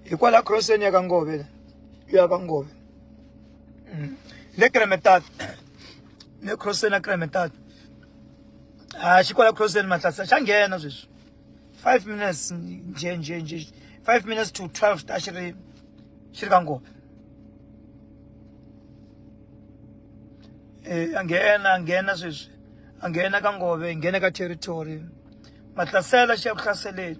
hi kwala crosseni ya ka ngove la ya ka ngove mm. le kremetat le crosseni ya kremetat a ah, xi kwala crosseni matlasa xa nghena sweswi five minutes nje nje nje five minutes to twelve ta xi ri xi ri ka ngove um a nghena a nghena sweswi a nghena ka ngove nghena ka territory matlasela xi ya ku hlaseleni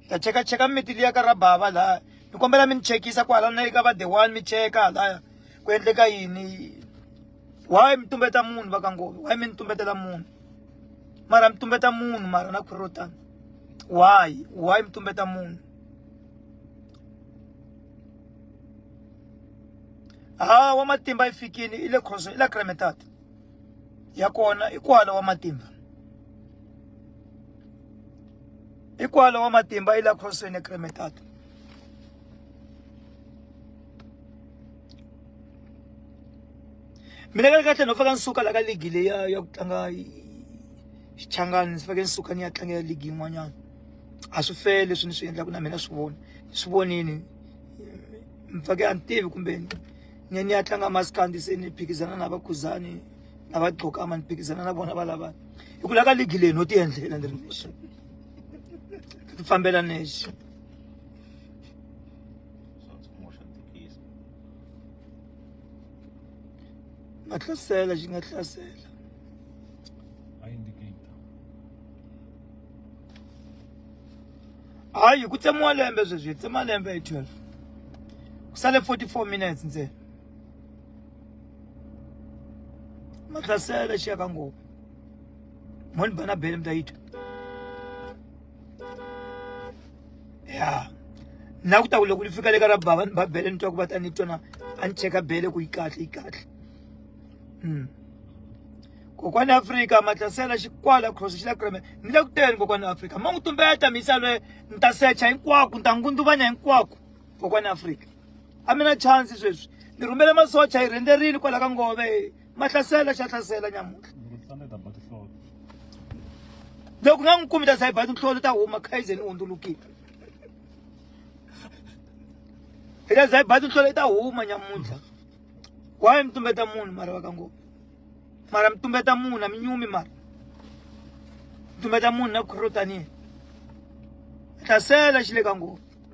ni ta cheka cheka miti liya ka ra bava laya ni kombela mi ni chekisa kwala na le ka va the one mi cheka halaya ku endleka yini why mi tumbeta munhu va ka nghovi why mi ni tumbetela munhu mara mi tumbeta munhu mara na khuri ro tani why why mi tumbeta munhu ha wa matimba yi fikile i le khoso i la cremetat ya kona i kwala wa matimba hikwalo wa matimba yi la khosweni ekremetato mina ka kahle no faka ni suka la ka ligi leyi ya ya ku tlanga xichangani ndzi fake ni suka ni ya tlangela ligi yin'wanyana a swi fele leswi ni swi endlaka na mina swi vona ni swi vonini ni fake a ni tivi kumbe ni ya ni ya tlanga maskandi se ni phikizana na vakhuzani na va gqokama ni phikizana na vona va lava hi ku la ka ligi leyi no ti endlela ni ri nexe ti fambela nexe nga hlasela xi nga hlasela hayi ku tsemiwa lembe sweswi hi tsema lembe hi 12 ku sale 44 minutes ntsena madrasa da shi a kango mun bana belem da ito ya na ku tawula ku li fika le ka ra baba ni ba bele ni twa ku va ta ni tona a ni cheka bele ku yi kahle yi kahle mm. kokwani afrika matlasela xikwala cross xi la kreme ni le ku teni kokwani afrika ma n'wi tumbeta misa lwe ni ta secha hinkwako ni ta ngunduvanya hinkwako kokwani afrika a mi na chansi sweswi ni rhumele masocha hi rhenderini kwala ka ngove ma hlasela xa hlasela nyamuntlha loko nga n'wi kumi ta za hi ba tinhlolo ta huma khayize ni hundzulukile hi ta za hi ba tinhlolo ta huma nyamuntlha waye mi tumbeta munhu mara va ka ngova mara mi tumbeta munhu a mi nyumi mara mi tumbeta munhu na khurotaniye hlasela xi le ka ngova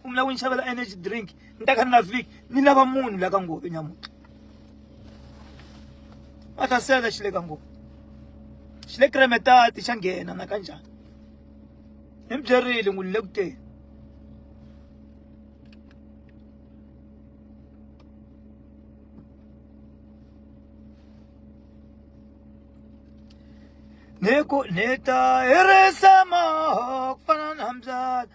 ku mi lava ku ni xavela energy drink ni ta kha ni nga fiki ni lava munhu la ka nghovi nyamutlha mathasela xi le ka nghovi xi le kremetati xa nghena na ka njhani ni mi byerile n'wi ni le ku teni neku neta herisa mahok fana na mbyana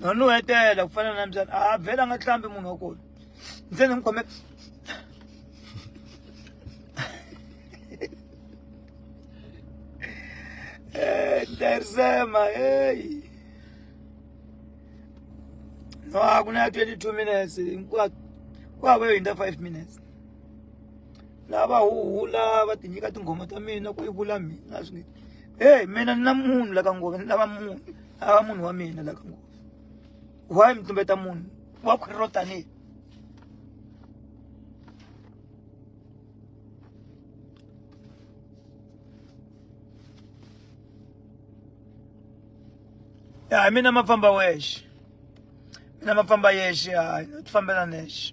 nanu hetela ku fana na mbyana a vhela nga hlambi munhu wa kona ndze ni n'wi khome darisema heyi no a ku na ya twenty two minutes hinkwaku ku hava yo hundza five minutes laha va huhula va ti nyika tinghoma ta mina ku yi vula mina swi nge heyi mina ni na munhu la ka nghozi ni lava munhu a va munhu wa mina la ka nghozi why mi tumbeta munhu wa khwiri ro tanihi ya mina ma famba wexe mina ma famba yexe hayi ti fambela nexe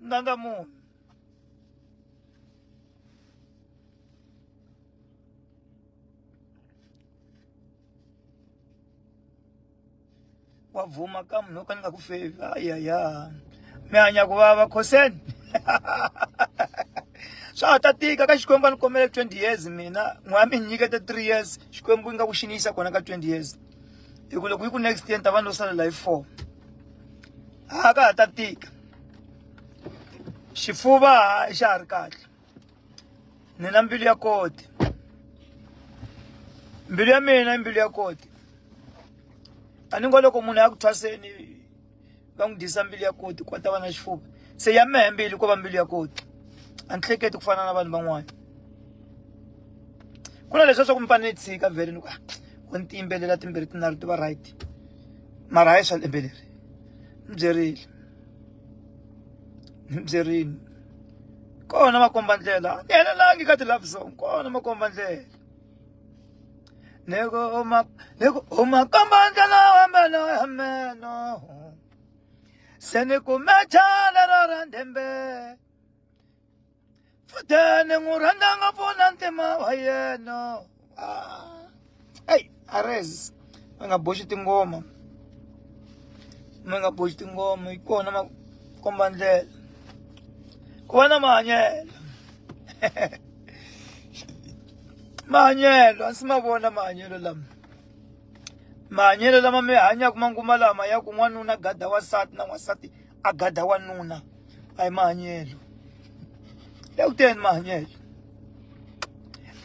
nanga munhu wa bvuma ka munhu wo ka ni nga ku fevi ayaya mi hanya ku vava khoseni swa ha ta tika ka xikwembu a ni kombele twenty years mina n'we a mi nyikete three years xikwembu yi nga ku xiniyisa kona ka twenty years hi ku loko yi ku next year ni ta va ni lo salela hi four a ka ha ta tika xifuva a xa ha ri kahle ni na mbilu ya koti mbilu ya mina i mbilu ya koti a ni ngo loko munhu ya ku thwaseni va n'wi dyisa mbilu ya koti ku va ta va na xifuva se ya mehe mbilu ko va mbilu ya koti a ni hleketi ku fana na vanhu van'wana ku na leswi swa ku mi fanele ni tshika vhele ni ku ah, ku ni tiyimbelela timbirhi tinharhu ti va right mara hayi swa lembe leri ni byerile ni byerile kona makomba ndlela ni helelangi ka ti-love song kona makomba ndlela loko uma loko uma komba ndlela wambeno yameno se ni kume chale ro ra ndhembele futeni n'wi rhandza ngopfu na ntima wa yena eyi ah. ares mi nga boxi tingoma mi nga boxi tingoma hi kona ma komba ndlela ku va na mahanyelo mahanyelo a ndzi ma vona mahanyelo lama mahanyelo lama mi hanyaka manguva lama ya ku n'wanuna gada wansati na n'wansati a gada wanuna a hi mahanyelo ya ku teni mahanyelo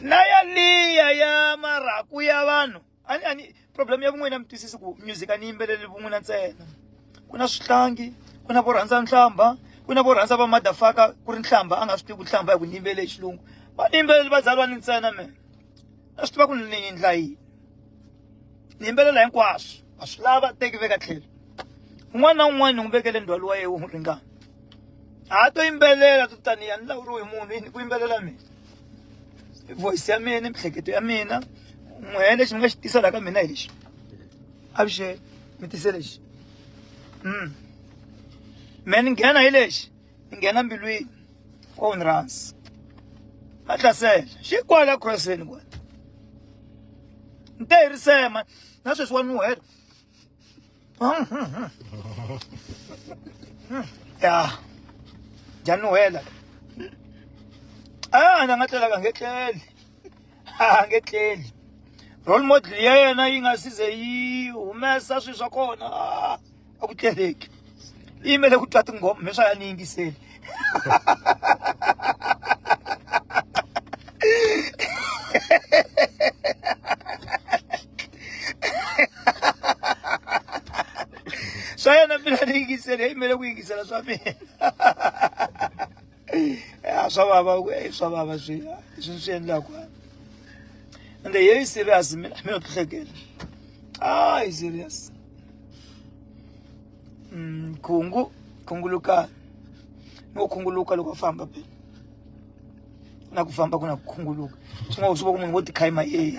na yaliya ya marhaku ya vanhu ani ani problem ya kun'wina mi twisisi ku music a ni yimbeleli vun'wina ntsena ku na swihlangi ku na vo rhandza nhlamba ku na vo rhandza va madafaka ku ri nhlamba a nga swi tivi ku nhlamba hi ku ni yimbele hi xilungu va ni yimbeleli va zalwa ni ntsena mina a swi tiva ku ni endla yini ni yimbelela hinkwaswo a swi lava teki veka tlhelo un'wana na un'wana ni n'wi vekele ndzhwalo wa yena wu n'wi ringana a to yimbelela to taniya ni lawuriwe hi munhu yini ku yimbelela mina voice ya mina miehleketo ya mina n'wehe lexi mi nga xi tisa laha ka mina hi lexi avuxeni mi tise lexi mm me ni nghena hi lexi yi nghena mbilwini ko ni rhandza a hlasela xi kwala crossini kwala ni te hi risema na sweswi wa nuhela ya dya nuhela a na nga tlelaka nge tleli a nge tleli role model ya yena yi nga size yi humesa swilo swa kona a ku tleleki i yimele ku twa tinghoma me swa ya ni yingiseli swa yena mina ni yingiseli i yimele ku yingisela swa mina swa vava ku e swa vava swi swi swi endlaku ende yeyi serious mina mina tlhekela ah i serious mm khungu khunguluka no khunguluka loko famba pe na ku famba ku na ku khunguluka swi nga swi va ku munhu wo tikhaima yeyi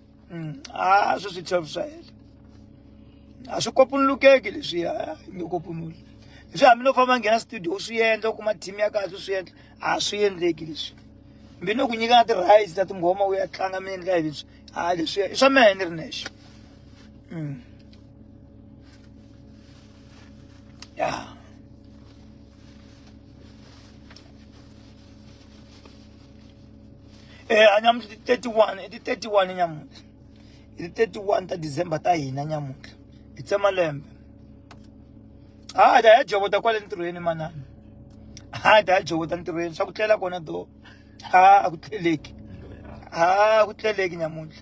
Mm. Ah, so swi chavisa hela. A swi kopunulukeki leswi a nge kopunuli. Leswi hambi no famba nghena studio swi endla u kuma team ya kahle swi endla a swi endleki leswi. Mbi no ku nyika na ti-rights ta tinghoma u ya tlanga mi endla hi leswi. A leswi i swa mehe ni ri nexe. Mm. Yeah. eh anyamuhla ti 31 ti 31 nyamuhla ti 31 ta December ta hina nyamuhla hi tsema lembe ha da ya jovota kwale ntirhweni manana ha da ya jovota ntirhweni swa ku tlela kona do ha a ku tleleki ha ku tleleki nyamuhla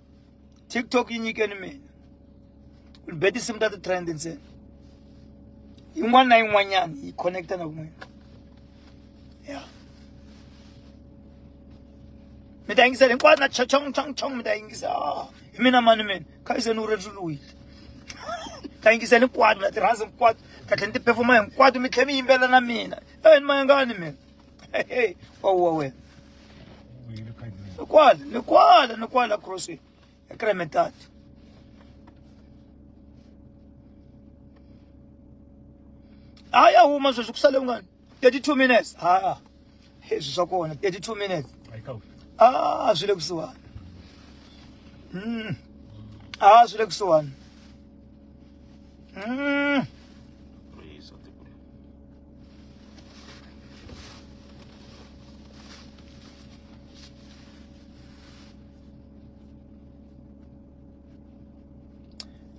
tiktok yi nyikeni mina ni be tinsimu ta ti-trend ntsena yin'wana na yin'wanyana yi connecta na kun'wina ya mi ta yingisela hinkwato na chachong chong chong mi ta yingisa ah, hi mina mani mina kha yi se ni wu rejuluwile ta yingisela hinkwato na tirhansi hinkwato katlhe ni ti-perfoma hinkwato mi tlhe mi yimbelela na mina e ni mayangani mina Hey, wawuwa wena ni kwala ni kwala ni kwala crossway ya kremetat a ya huma sweswi ku sale ungani 32 minutes haa swi swa kona 32 minutes a swi le kusuhani a swi le kusuhani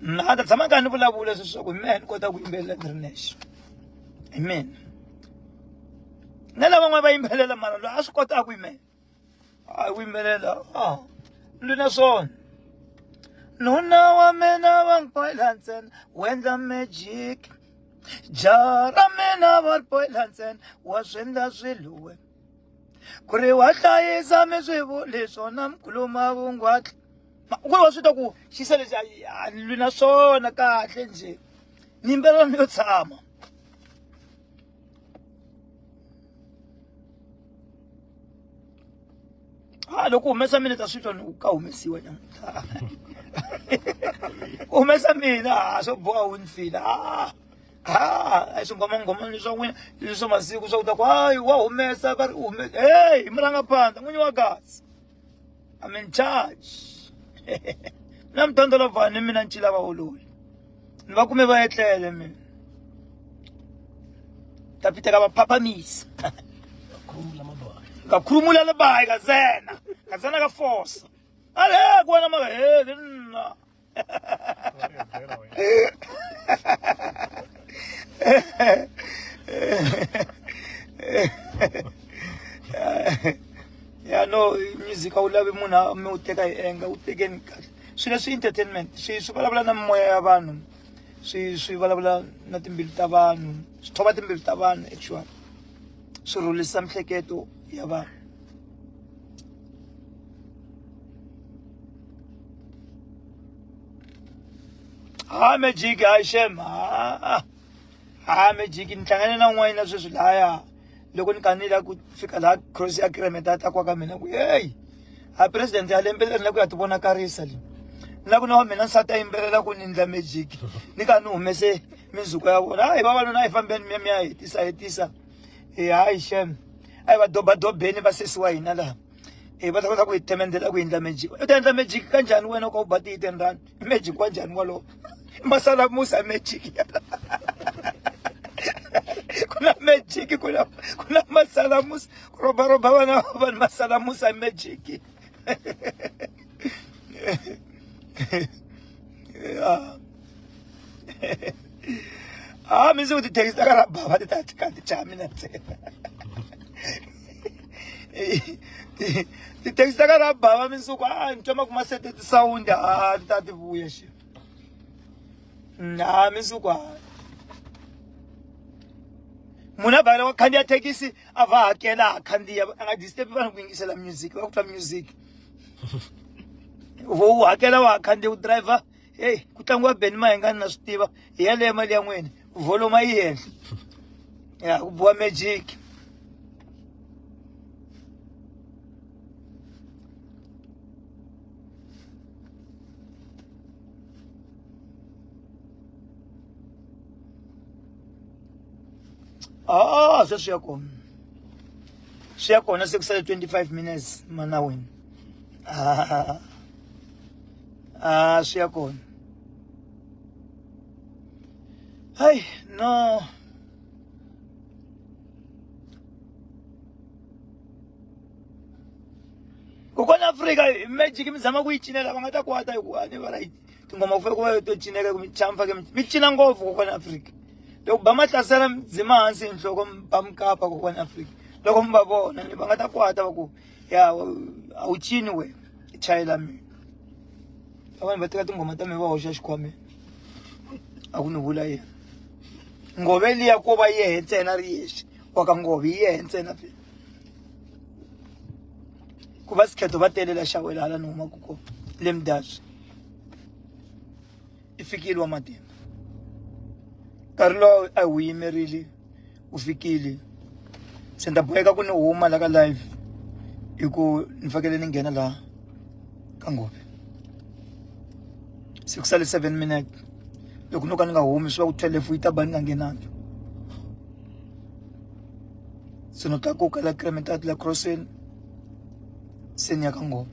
na ta tshama karhi ni vulavula leswaku hi mina ni kota ku yimbelela ni ri nexe hi mina na lavan'wana va yimbelela mara loyi a swi kotaka ku yimela a wu yimbelela a ndzi na swona nuna wa mina va ni boyila ntsena wu endla magic jaha ra mina va ri boyila ntsena wa swi endla swilo we ku ri wa hlayisa mi swi vuli swona mi khuluma vungwatla ku ri wa swi ta ku xisa lexi a ni lwi na swona kahle njhe ni yimbelela ni yo tshama ha loko humesa mina ta swi twa ni ku ka humesiwa nyamutlha ku humesa mina ha swo boha wu ni fila ha ha a swi ngomangoma leswa n'wina leswa masiku swa ku ta ku hayi wa humesa va ri u humesa heyi murangaphandla n'winyi wa kasi I'm in charge. na mtando la vani mina ncila va ololi. Ni va kume va etlele mina. Ta piteka va phaphamisa. Ka khurumula le bayi ka zena. Ka zena ka force. Ale ku wena maka he nna. ya no music a wu lavi munhu a mi wu teka hi enga wu tekeni kahle swilo swi entertainment swi swi vulavula na mimoya ya vanhu swi swi vulavula na timbilu ta vanhu swi thova timbilu ta vanhu actually swi rhulisa mihleketo ya vanhu ha magic hayi shem ha ha magic ni hlangane na n'wanyina sweswi laya loko ni kanile a ku fika laha cross ya kiremeta a ta kwa ka mina ku heyi a president ya lembe leri na ku ya ti vonakarisa leyi ni la ku na wa mina nsati a yimbelela ku ni ndla magic ni ka ni humese minzuko ya vona hayi vavanuna a yi fambeni miya mi ya hetisa hetisa e hayi shem a yi va dobadobeni va sesi wa hina laha e va ta kota ku yi temendela ku endla magic u ta endla magic kanjhani wena ka u ba tiyi ten rand magic wa njhani walowo masala musa magic ku na magic ku na ku na masala musa ku robaroba vana va vanhu masala musa magic yeah. ah mi ndzi ku tithekisi ta ka ra bava ti ta ti ka ti cha mina ntsena tithekisi ta ka ra bava minsuku a ni twa ma kuma sete tisawundi a ti ta ti vuya xe na minsuku a munhu a vhakela wa khandziya thekisi a va hakela a khandziya a nga disturbi vanhu ku yingisela music va ku twa music vo u hakela wa khandziya u driver heyi ku tlangiwa beni ma hi nga ni na swi tiva hi yaleyo mali ya n'wini voloma yi henhla ya ku biwa magic ah se swi ya kona swi ya kona se ku sale 25 minutes mana wena ah. a swi ya kona hayi no kokwana afrika magic mi zama ku yi cinela va nga ta kwata hikuva a ni va right tingoma ku fane ku va to cineka ku mi chamfa ke mi cina ngopfu kokwana afrika loko ba mahlasela dzima hansi hi nhloko mi ba mikapa kokwana afrika loko mi va vona ni va nga ta kwata va ku ya a wu cini we chayela mi vanhu va teka tinghoma ta mi va hoxa xikhwameni a ku ni vula yena ngove liya ko va yehe ntsena ri yexe wa ka ngove yi yehe ntsena phela ku va sikhetho va telela xawela hala ni humaka kona le mudaswi i fikile wa matimba nkarhi lowu a hi wu yimerile wu fikile se ni ta boheka ku ni huma la ka live hi ku ni fakele ni nghena laha ka nghobe se ku sale seven minute loko no ka ni nga humi swi va ku twelve yi ta ba ni nga nghenangi se no tlakuka la kremetati la crosseni se ni ya ka nghobe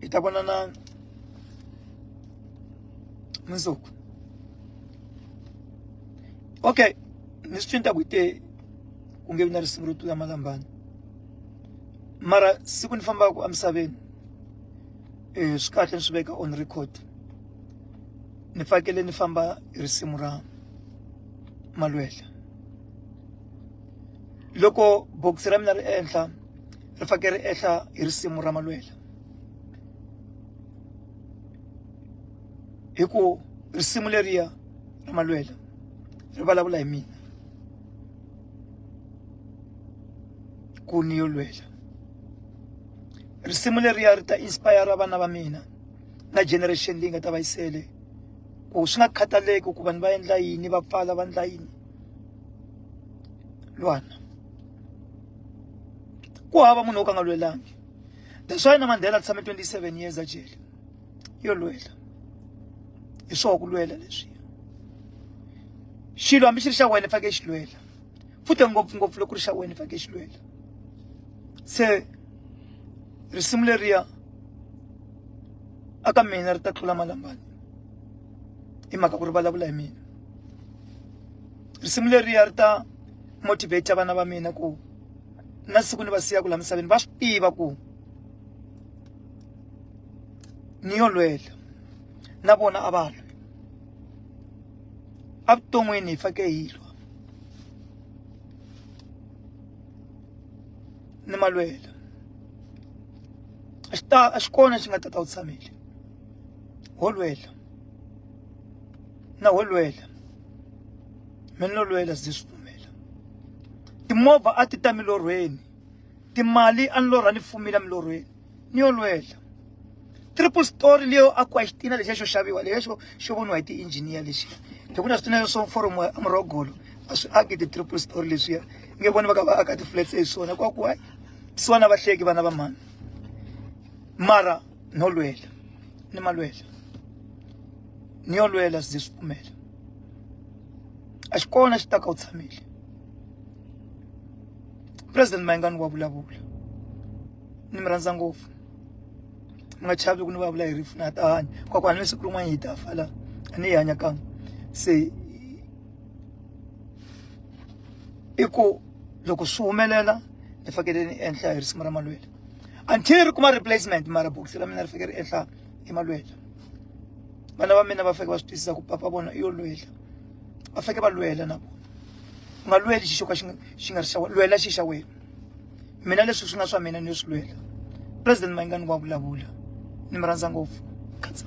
hi ta vonana mundzuku okay ni swi cinta ku te ku nge vi na risimu ro tlula malambana mara siku ni fambaka emisaveni um swi kahle ni swi veka on record ni fakele ni famba hi risimu ra malwela loko bokisi ra mina ri ehenhla ri fake ri ehla hi risimu ra malwela hi ku risimu leriya ra malwela ri vulavula hi mina ku ni yo lwela risimu leriya ri ta inspire vana va mina na generation leyi nga ta va yisele ku swi nga khataleki ku vanhu va endla yini va pfala va endla yini lwana ku hava munhu wo ka nga lwelangi that's why na mandela tshame 27 years a jele yo lwela hi swoho ku lwela leswi xilo hambi xi ri xa wena fake xi lwela futhi ngopfungopfu loko ri xa wena fake xi lwela se risimu leriya aka mina ri ta tlula malambani hi mhaka ku ri vulavula hi mina risimu leriya ri ta motivate vana va mina ku na siku ni va siyaku la misaveni va swi tiva ku ni yo lwela na vona a va lwi evuton'wini hi fake hi lwa ni malwela a xi ta a xi kona xi nga ta ta wu tshamile ho lwela na wo lwela mi no lwela se swi pfumela timovha a ti ta milorhweni timali a ni lorha ni fumile milorhweni ni yo lwela triple story leyo akiwa xitina lexiya xo xaviwa lexiya xo xo voniwa hi ti-engineer lexiya loko na switina swo forum a murhogolo a swi aki ti-triple story leswiya nge voni va ka va aka ti-flats hi swona kwakuwa swona vahleki vana va mhani mara nolwela nimalwela niyolwela size sipfumela a xi kona xi ta ka u tshamile president mayingani wa vulavula ni mi rhandza ngopfu mi nga chavi loko ni vulavula hi rifu na ha ta hanya kwakwani ni siku rin'wana hi ta fa la a ni yi hanya kan'we se i ku loko swi humelela ni fanekele ni endla hi risimu ra malwela until ri kuma replacement mara bokisi ra mina ri fike ri ehla emalwela vana va mina va fike va swi twisisa ku papa vona i yo lwela va fike va lwela na vona u nga lweli xixo ka xi xi nga ri xa lwela xi xa wena mina leswi swi nga swa mina ni yo swi lwela president mayingani wa vulavula ni mi rhandza ngopfu khatsa